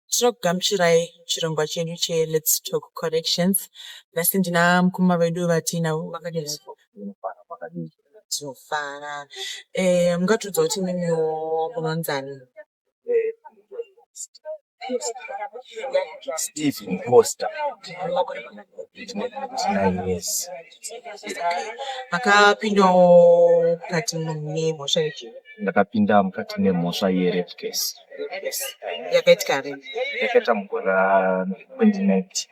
Tinokugamuchirai muchirongwa chedu cheLets Talk Connections. Nhasi ndina mukoma vedu vatinavo vakadini tinofara eh, mungatiudza kuti mimiwo munonzani Steve Costa. Makore manani. Yes. makapindawo mukati nemhosva yechi ndakapinda mukati nemhosva yerape case yakaitika ri yakaita mugore ra 2019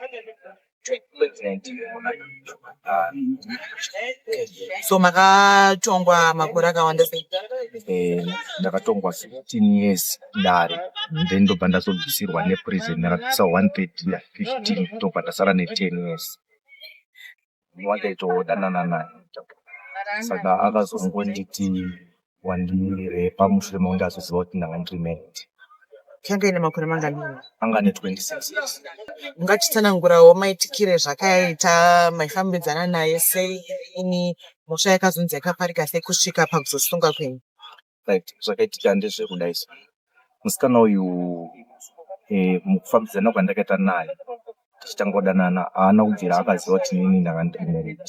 so makatongwa makore akawanda sei eh, ndakatongwa 15 years dare then ndobva ndazobvisirwa neprison ndakabvisa 130 15 ndobva ndasara ne10 years wakaitodanana naye saka akazongonditi wandimire pamushure mokunge azoziva kuti ndanga ndiri married yanga ine makore manganini anga ane 26 years ungatitsanangurawo maitikire zvakaita maifambidzana naye sei ini mhosva yakazonzi yakaparika sei kusvika pakuzosunga kwenyu right zvakaitika ndezvekuda izvo musikana uyu eh, mukufambidzana kwandakaita naye tichitanga kudanana haana kubvira akaziva kuti nini ndanga ndiri married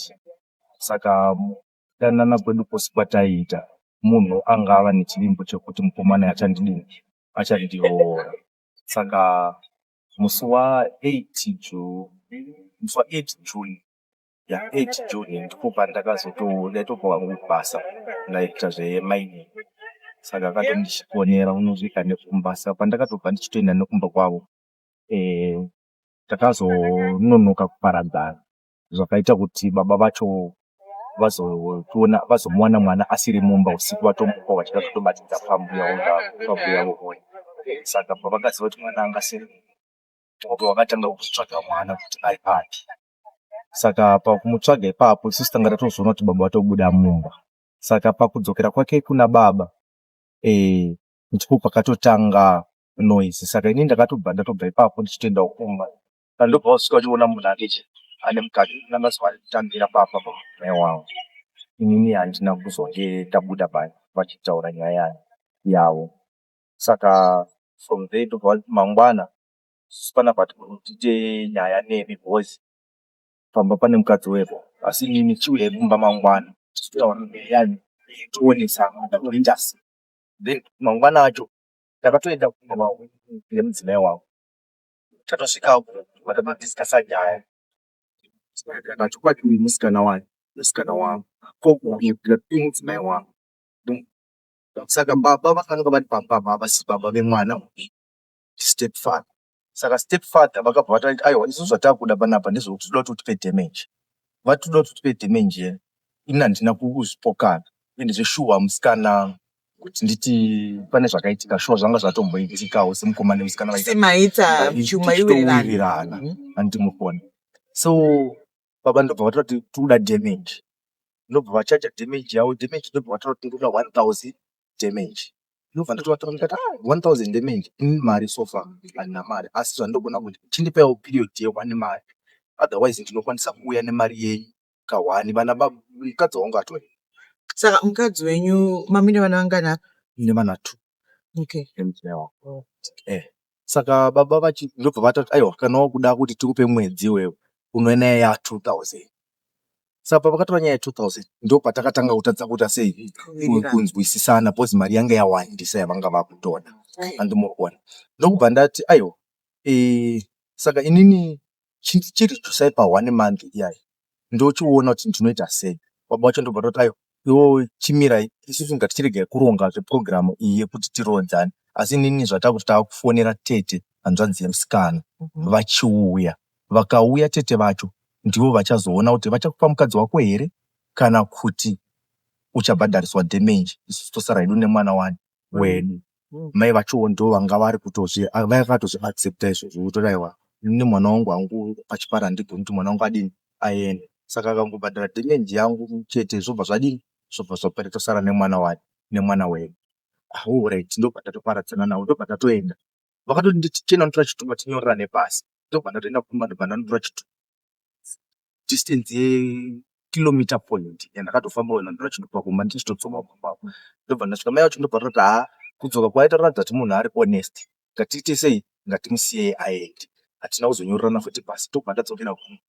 saka kudanana kwedu kwose kwataiita munhu anga ava nechivimbo chekuti mukomana achandidini achandiroora saka musi wa8 june musi wa8 june ya 8 June ndipo pandakazoto ndaitopuwa basa ndaita zvemining saka akatondichikonera unosvika nekumba saka pandakatobva ndichitoenda nekumba kwavo eh, takazononoka kuparadzana zvakaita kuti baba vacho vazotiona vazomuwana mwana asiri mumba usiku vatomuka vachida kutobatidza pambuya pambuya vovona saka pavakaziva kuti mwana angasiri wakatanga kutsvaga mwana kuti ari papi saka pakumutsvaga ipapo isu tanga tatozoona kuti baba vatobuda mumba saka pakudzokera kwake kuna baba eh, ndipo pakatotanga noise saka ini ndakatobva ndatobva ipapo ndichitoendawo kumba ndobva wasvika uchiona munhu ake che ane mukadzi nanga zuva kutambira papa mai wavo inini handina kuzonge tabuda pa vachitaura nyaya yavo saka from there ndobva vati mangwana isusu pana but tiite nyaya nemi because pamba pane mukadzi weko asi imimi chiuyai kumba mangwana tizotaura nyaya tionesana toita sei then mangwana acho takatoenda kumba kwavo nemudzimai wavo tatosvikawo tamadiscasa nyaya chokwadi uyu musikana wayo musikana wangu ko uyu mudzimai wangu saka baba vakange vari pamba apa havasi baba vemwana uyu ndistepfather saka stepfather vakabva vati aiwa isu zvatakuda panapa ndezvekuti tinoda kuti utipe damage vati tinoda kuti utipe damage yena ini handina kuzvipokana ende zveshuwa musikana kuti nditi pane zvakaitika shuwa zvanga zvatomboitikawo semukoma nemusikana maita chuma iwirirana handimukoni so baba ndobva vataura kuti tirikuda damage ndobva vachaja damage yavo damage ndobva vataura kuti tirikuda 1000 damage ndobva ndatovatora ndikati ah 1000 damage inini mari so far handina mari asi zvandogona kuti chindipaiwo period yehwani mari otherwise ndinokwanisa kuuya nemari yenyu kahwani vana baba mukadzi wangu atori saka mukadzi wenyu mamine vana vangana ndine vana two okay. emudzimai wangu eh Saka baba vachi ndobva vatoti aiwa kana wakuda kuti tikupe mwedzi iwewe unouya nenyaya ya 2000. Saka pavakatora nyaya ya 2000 ndopatakatanga kutadza kuita sei kunzwisisana because mari yanga yawandisa yavanga vakutoda. Handi murikuona. Ndokubva ndati aiwa eeh saka inini chindidzosai pa one month iyaa ndochiona kuti ndinoita sei. Baba vacho ndobva vatoti aiwa iwewe chimirai isusu inga tichiregai kuronga zveprogram iyi yekuti tirodzane asi inini zvatakuti takufonera tete hanzvadzi yemusikana vachiuya. Vakauya tete vacho ndivo vachazoona kuti vachakupa mukadzi wako here kana kuti uchabhadhariswa damage isusu tosara hedu nemwana wani. wedu mai vachowo ndo vanga vari kutozvi vakatozvi accepta izvozvo votori aiwa ini mwana wangu hangu pachipara handigoni kuti mwana wangu adini aende saka akangobhadhara dhemendi yangu chete zvobva zvadini zvobva zvapera tosara nemwana wani nemwana wedu horyt ah, ndobva ndatoparadzana navo ndobva ndatoenda vakatonditi chena unotora chitupa tinyorerane pasi ndobva ndatoenda kumba ndobva ndanotora chitupa distance ye kilometer point yandakatofamba wena ndiri kuchindobva kumba ndichitodzoka kumba uku ndobva ndasvika mai vacho ndobva vatoti haa kudzoka kwake tatoratidza kuti munhu ari honest ngatiite sei ngatimusiyei aende hatina kuzonyorerana futi pasi ndobva ndadzokera kumba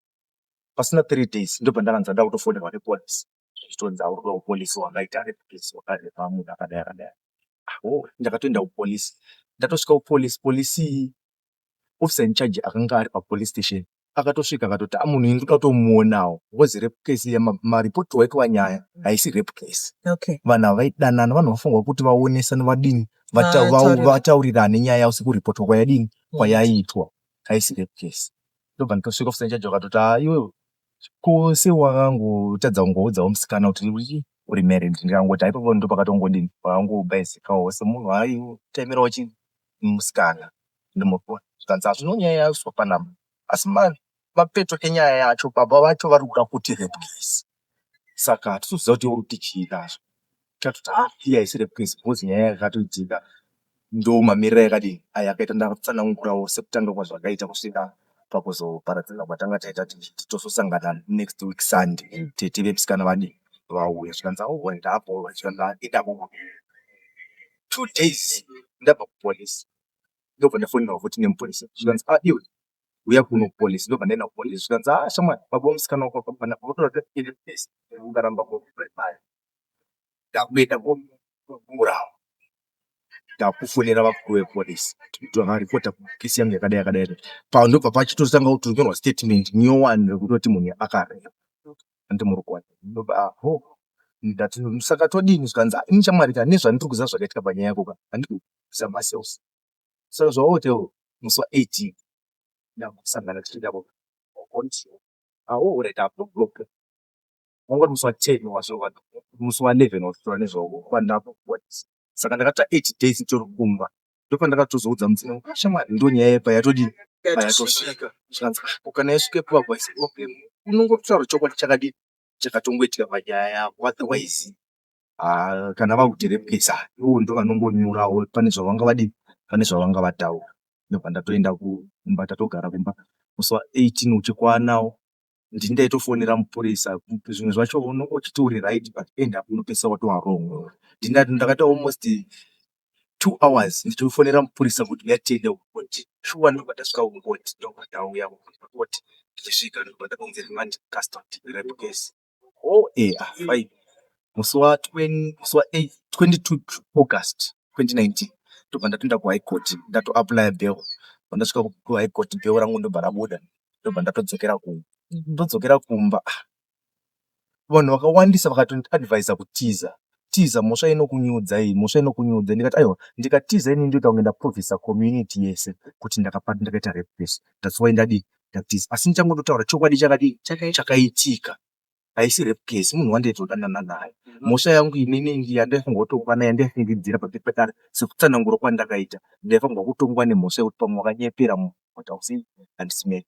pasina three days ndobva ndakanzi ndada kutofonerwa nepolice zvichitonzi aurikuda kupolice wakaita replace wakarepa munhu akadai akadai aho ndakatoenda kupolice ndatosvika kupolice police iyi Officer in charge akanga ari papolice station akatosvika akatoti ah munhu ini ndoda kutomuonawo was rape case iya ma- mareport waitwa nyaya haisi rape case okay vanhu ava vaidanana vanhu vafunga kuti vaonesane vadini vata- vau- Vataurira. vataurirane nyaya yavo sekuripotwa kwayadini kwayaitwa haisi rape case ndobva nditosvika officer in charge vakatoti ah iwe ko sewakangotadza kungoudzawo musikana kuti uri- uri married ndikangoti haipopo ndopakatongodini pakangobayizikawo semunhu aitaimirawo chinhu nemusikana nemuroi zvikanzi hazvina nyaya yaiswa panhamba asi mapeto enyaya yacho baba vacho vari kuda kuti rape case saka hatisi kuziva kuti uri kuti chii kazve tatoti ah iyi haisi rape case because nyaya yakatoitika ndomamirira yakadii aya akaita ndatsanangurawo sekutanga kwazvakaita kusvika pakuzoparadzana kwatanga taita tichiti tozosangana next week sunday tete vemusikana vadii vauya zvikanzi aohwa ndaapohwa zvikanzi handida kuuya two days ndabva kupolice ndobva ndafonera futi nemupurisa zvikanzi a ah, iwe uya kuno kupolice ndobva ndaenda kupolice zvikanzi a ah, shamwari baba musikana wako akabana otoraees ukaramba kuaa ndakuenda komuurawa ndakufonera vakuru vepolice vakaripota kukesi yangu yakadai yakadai pa ndobva pachitotanga kutonyorwa statement nyowani rekutoti munhu akarepa Hanti murikuwani ndoba ah hoo ndati saka todini zvikanzi ah ini shamwari ka nezvandiri kuziva zvakaitika panyaya yako ka handidi kubvisa macells saka zvawaote iwe musi wa 18 ndakusangana tiri ikako ka ah hoo orit apa ndoblock wanga uri musi wa 10 wazova musi wa 11 wazvitaura nezvawo kwandakakubhadhisa saka ndakatira 8 days nditori kumba ndopandakatozoudza mudzimu wangu kuti shamwari ndonyaya yepa yatodii payatosvika zvikanzi ah ko kana yasvika ipapo haisi problem unongotaura chokwadi chakadii chakatongoitika panyaya yako otherwise ah, kana vakutirepesa ivo ndovanongonyorawo pane zvavanga vadii pane zvavanga vataura ndobva ndatoenda kumba tatogara kumba musi wa 18 uchikwanawo ndini ndaitofonera mupurisa zvimwe zvacho uchiti uri right but end up unopedzisa watova wrong ndini ndakaita almost two hours ndichifonera mupurisa kuti uya tiende kukoti shuwa ndobva tasvika kukoti ndobva tauya kukoti tichisvika ndobva takunzi remand custody rep case o oh, e eh, ah, fine musi wa 22 august 2019 ndobva ndatoenda kuhigh court ndatoapply bail pandasvika kuhigh court bail rangu ndobva rabuda ndobva ndatodzokera kumba ndodzokera kumba ah, vanhu vakawandisa vakatondiadvisa kutiza tiza mhosva inokunyudza iyi mhosva inokunyudza ndikati aiwa ndikatiza ini ndoita kunge ndaprovisa community yese kuti ndakapati ndakaita repes that's why ndadii ndatiza asi ndichangototaura chokwadi chakadii chakaitika haisi rape case munhu wandaizodanana naye mhosva yangu inini yandaifungotongwa naye yandaifungidzira pamberi pekare sekutsanangura kwandakaita ndaifanirwa kutongwa nemhosva yekuti pamwe wakanyepera munhu but hausi handisi married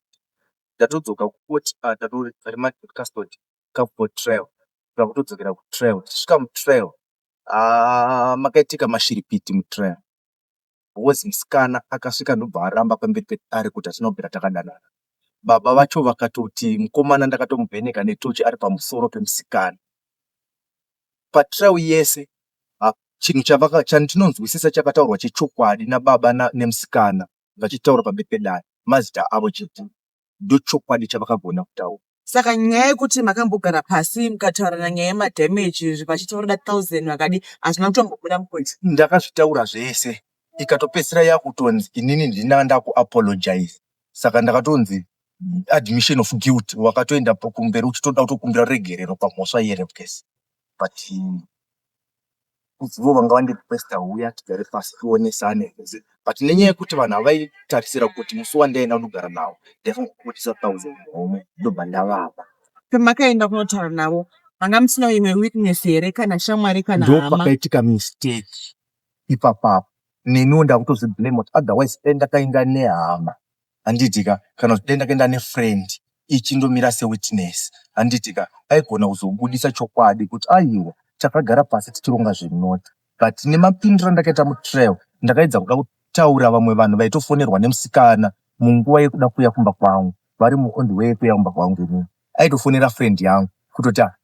tatodzoka kukoti ah, tatori remand custody come for trial takutodzokera kutrial tichisvika mutrial ah, makaitika mashiripiti mutrial was musikana akasvika ndobva aramba pamberi pedare kuti hatina kubvira takadanana. Baba vacho vakatoti mukomana ndakatomuvheneka netochi ari pamusoro pemusikana. Patrial yese ha- chinhu chavaka- chandinonzwisisa chakataurwa chechokwadi nababa na- nemusikana vachitaura pamberi pedare mazita avo chete. ndochokwadi chavakagona kutaura. Saka nyaya yekuti makambogara pasi mukataurirana nyaya yemadamage vachiti vanoda thousand vakadi hazvina kutombobuda mukunzi. Ndakazvitaura zvese ikatopedzisira yakutonzi inini ndinanga ndakuapologize saka ndakatonzi admission of guilt wakatoenda kumberi uchitoda kutokumbira ruregerero pamhosva yerepcase but kunzi ivo vanga vandi requester huya tigare pasi tionesane zvese but nenyaya yekuti vanhu havaitarisira kuti musi wandaenda kunogara navo ndaifana kubudisa thousand homwe ndobva ndavapa. Pamakaenda kunotaura navo manga musina imwe witness here kana shamwari kana hama? Ndopakaitika mistake ipapapo neniwo ndakutozviblame kuti otherwise dai ndakaenda nehama handiti ka kana uchida ndakaenda nefriend ichindomira sewitness handiti ka aigona kuzobudisa chokwadi kuti aiwa takagara pasi tichironga zvenoti but nemapindiro andakaita mutrial ndakaedza kuda kutaura vamwe vanhu vaitofonerwa nemusikana munguva yekuda kuya kumba kwangu vari muond way yekuya kumba kwangu inini aitofonera friend yangu kutoti ah,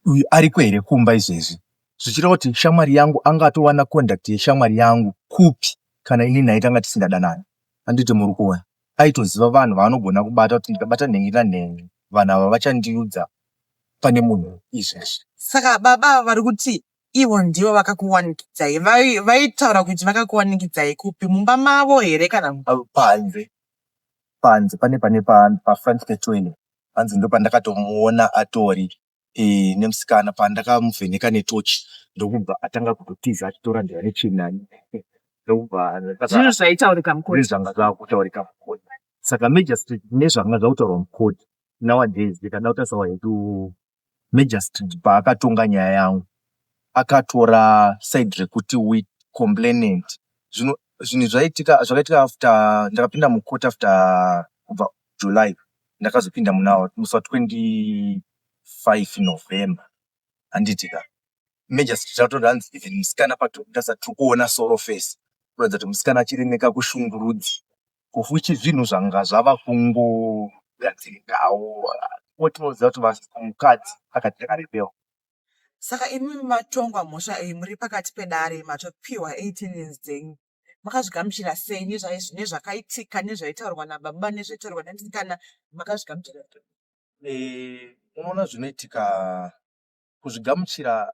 uyu ariko here kumba izvezvi zvichireva kuti shamwari yangu anga atowana conduct yeshamwari yangu kupi kana inini naitanga tisingadanani Handiti muri kuona? Aitoziva vanhu vaanogona kubata kuti ndikabata nhen'i nanhen'i vanhu ava vachandiudza pane munhu izvi izvi. Saka baba ava vari kuti ivo ndivo vakakuwanikidzai? Vaitaura kuti vakakuwanikidzai kupi? Mumba mavo here kana kuti? Panze. Panze pane pane pafront petoilet. Hanzi ndopandakatomuona atori. nemusikana pandakamuvheneka netochi ndokubva atanga kutotiza achitoratidza nechain nani ndokubva zvinhu zvaitaurika mukoti nezvanga zvakutaurika mukoti saka magistrate nezvanga zvakutaurwa mukoti nowadays ndikada kutasawa hedu magistrate paakatonga nyaya yangu akatora side rekuti we complainant zvino zvinhu zvaitika zvakaitika after ndakapinda mukoti after kubva July ndakazopinda muna musi wa 25 November handiti ka emergency tatoda hanzi even musikana patobuda sati tiri kuona solo face kuratidza kuti musikana achiri nekakushungurudzi of which zvinhu zvanga zvava kungogadzirikawo otinoziva kuti mukadzi akati ndakarepewa saka imimi matongwa mhosva iyi muri pakati pedare matopiwa 18 years dzenyu makazvigamuchira sei nezvakaitika nezvaitaurwa nababa nezvaitaurwa nasikana makazvigamuchira eh, unoona zvinoitika kuzvigamuchira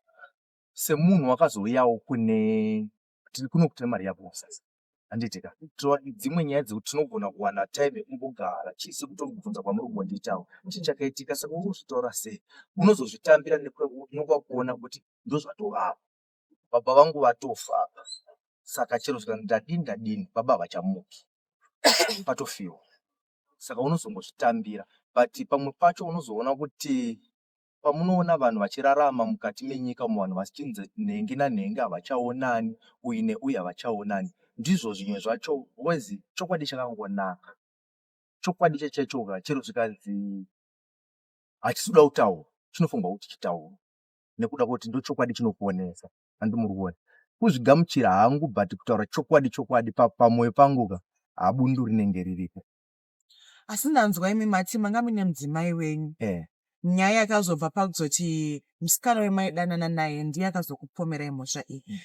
semunhu wakazouyawo kune tiri kuno kutine mari yako sasa handitika dzimwe nyaya dzekuti tinogona kuwana time kumbogara chii sekutobvunza kwamuri kumbondiitawo chii chakaitika saka uri kuzvitaura sei unozozvitambira nekuti unokwakuona kuti ndozvatovapo baba vangu vatofa apa saka chero zvikanzi ndadini ndadini baba havachamuki patofiwa saka unozongozvitambira but pamwe pacho unozoona kuti pamunoona vanhu vachirarama mukati menyika umo vanhu vachinzi nhengi nanhengi havachaonani uyu neuyu havachaonani ndizvo zvimwe zvacho wezi chokwadi chakangonaka chokwadi chachaichoka chero zvikanzi hachisi kuda kutaura chinofunga kuti chitaura nekuda kwekuti ndochokwadi chinokuonesa handi muri kuona kuzvigamuchira hangu but kutaura chokwadi chokwadi pamwoyo pangu ka habundu rinenge riripo asi ndanzwa imi mati manga muine mudzimai wenyu eh. nyaya yakazobva pakuzoti musikana wemaidanana naye ndiye akazokupomerai mhosva iyi mm.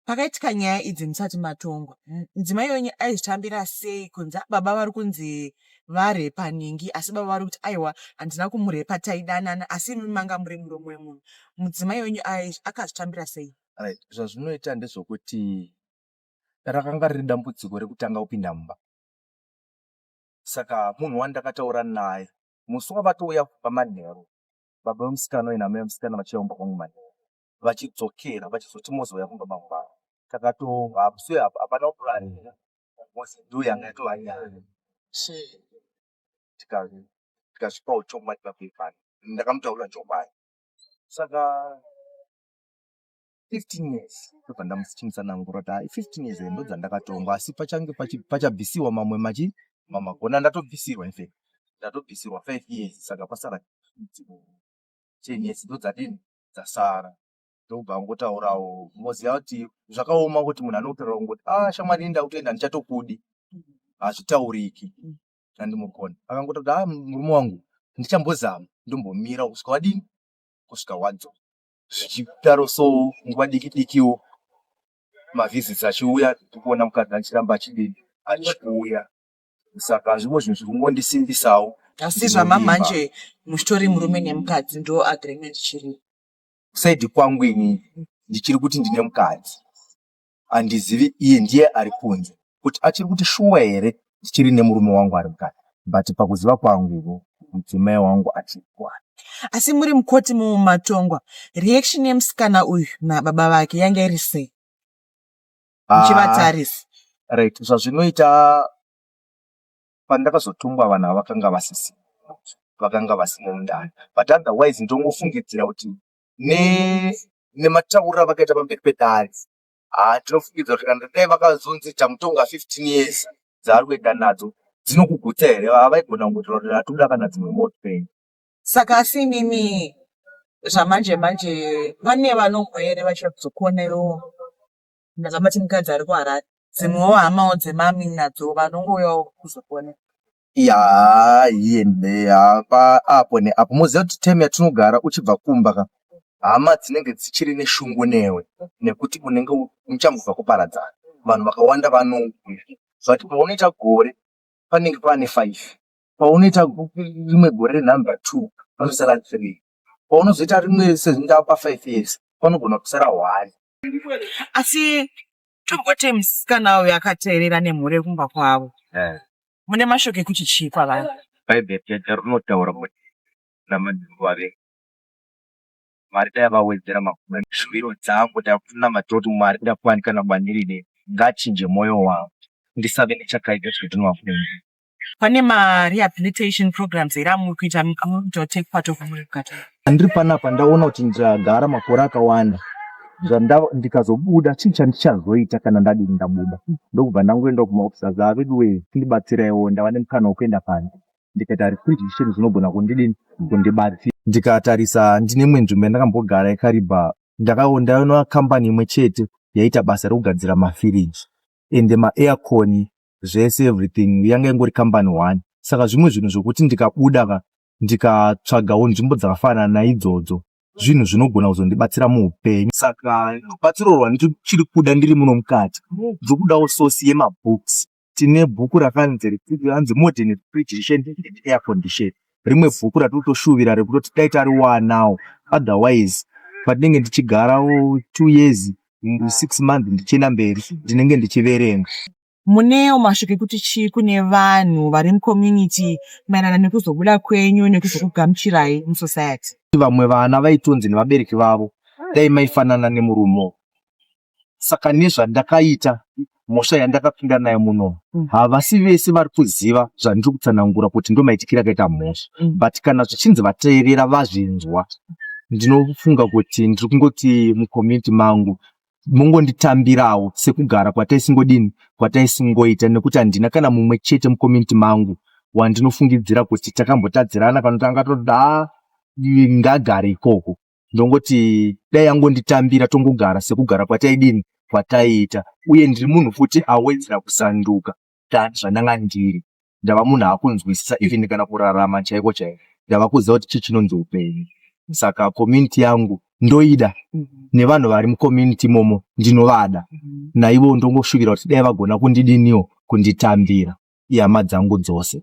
pakaitika nyaya idzi musati matongwa mudzimai wenyu aizvitambira sei kunzi baba vari kunzi varepa ningi asi baba vari kuti aiwa handina kumurepa taidanana asi imi manga muri muromo wemunhu mudzimai wenyu akazvitambira sei right zvazvinoita ndezvokuti rakanga riri dambudziko rekutanga kupinda mumba saka munhu wandakataura naye musi wavatouya kupa manheru baba vemusikana uye name vemusikana vachiyaumba kwangu manheru vachidzokera vachizoti mozouya kumba mangwana takatohapse hapana kuranira mozi ndo yanga yatova nyaya tikasvipawo chokwadi papepani ndakamutaurira chokwadi saka 15 years ndobva ndamuchinitsanangura kuti hai 15 years ndo dzandakatongwa asi pachange pachabvisiwa mamwe machi mamagona ndatobvisirwa infact ndatobvisirwa 5 years saka pasara 10 years ndo dzadini dzasara ndobva angotaurawo moziva kuti zvakaoma kuti munhu anotaura kungoti a ah, shamwari inda kutoenda ndichatokudi hazvitauriki ndandimukona akangoita kuti a ah, murume wangu ndichambozama ndombomira kusvika wadini kusvika wadzo zvichidaro so nguva diki dikiwo mavisits achiuya tikuona mukadzi achiramba achidini achikuuya saka zvimwe zvinhu zvikungondisimbisawo asi zvamamanje muchitori murume nemukadzi ndo agreement chiri saidi kwangu ini ndichiri kuti ndine mukadzi handizivi iye ndiye ari kunze kuti achiri kuti shuwa here ndichiri nemurume wangu ari mukadzi but pakuziva kwangu ivo mudzimai wangu achiri kwani asi muri mukoti mumatongwa reaction yemusikana uyu nababa vake yanga iri sei ah, muchivatarisa uh, right zvazvinoita pandakazotungwa vanhu avakanga vasisi vakanga vasina mundani but otherwise ndongofungidzira kuti ne nematauriro avakaita pamberi pedare haa tinofungidzira kuti kana dai vakazonzi tamutonga 15 years dzaari kuenda nadzo dzinokugutsa here avaigona kungotaura kuti atoda kana dzimwe motpen saka asi inini zvamanje manje vane vanombo here vachida kuzokuonerowo Ndakamati mukadzi ari kuHarare. Dzimwewo hamawo dzemami nadzo vanongouyawo kuzopona. Yaa here nhe haa paapo neapo moziva kuti time yatinogara uchibva kumba ka hama dzinenge dzichiri neshungu newe nekuti unenge u- muchangobva kuparadzana. Vanhu vakawanda vanouya zvati paunoita gore panenge pane five paunoita go- rimwe gore renumber two panosara three paunozoita rimwe sezvindawo pafive years panogona kusara one asi tomboti musikana uyo akateerera nemhuri yekumba kwavo eh. mune mashoko ekuti chii kwavari bhaibheri chete rinotaura kuti namadzimbo ave mwari dai vawedzera makore shuviro dzangu ndakunamata kuti mwari ndakuwanikana bwandirine ngachinje mwoyo wangu ndisave nechakaipa zvekuti ndinowakuenda Pane ma rehabilitation programs here amuri kuita to take part of muri kugata? Ndiri panapa ndaona kuti ndagara makore akawanda ndikazobuda chii chandichazoita kana ndadini ndabuda ndokubva ndangoenda kumaofisa zaa veduwee ndibatsiraiwo ndava nemukana wekuenda panze ndikaita refugition zvinogona kundidini kundibatsira ndikatarisa ndine imwe nzvimbo yandakambogara yakaribha ndakaondaona kambani imwe chete yaita basa rekugadzira mafiriji ende maairconi zvese everything yanga ingori company one saka zvimwe zvinhu zvokuti ndikabuda ka ndikatsvagawo nzvimbo dzakafanana naidzodzo zvinhu zvinogona kuzondibatsira muupenyu saka rubatsiro rwandichiri kuda ndiri muno mukati ndiri kudawo sosi yemabooks tine bhuku rakanzi hanzi modern refrigeration air condition rimwe bhuku ratinotoshuvira rekutoti dai tariwanawo otherwise patinenge ndichigarawo two years six months ndichienda mberi ndinenge ndichiverenga munewo mashoko ekuti chii kune vanhu vari mucommunity maerana nekuzobuda kwenyu nekuzokugamuchirai musociety vamwe vana vaitonzi nevabereki vavo dai maifanana nemurumo saka nezvandakaita mhosva yandakapinda nayo muno mm. havasi vese vari kuziva zvandiri kutsanangura kuti ndo maitikira akaita mhosva mm. but kana zvichinzi vateerera vazvinzwa ndinofunga kuti ndiri kungoti mucommunity mangu mongonditambirawo sekugara kwataisingodini kwataisingoita nekuti handina kana mumwe chete mucommunity mangu wandinofungidzira kuti takambotadzirana kana kuti angatoda ngagare ikoko ndongoti dai yangonditambira tongogara sekugara kwataidini kwataiita uye ndiri munhu futi awedzera kusanduka tani zvandanga ndiri ndava munhu akunzwisisa even kana kurarama chaiko chaiko ndava kuziva kuti chii chinonzi upenyu saka community yangu ndoida mhm. nevanhu vari mucommunity imomo ndinovada mhm. naivo ndongoshuvira kuti dai vagona kundidiniwo kunditambira ihama dzangu dzose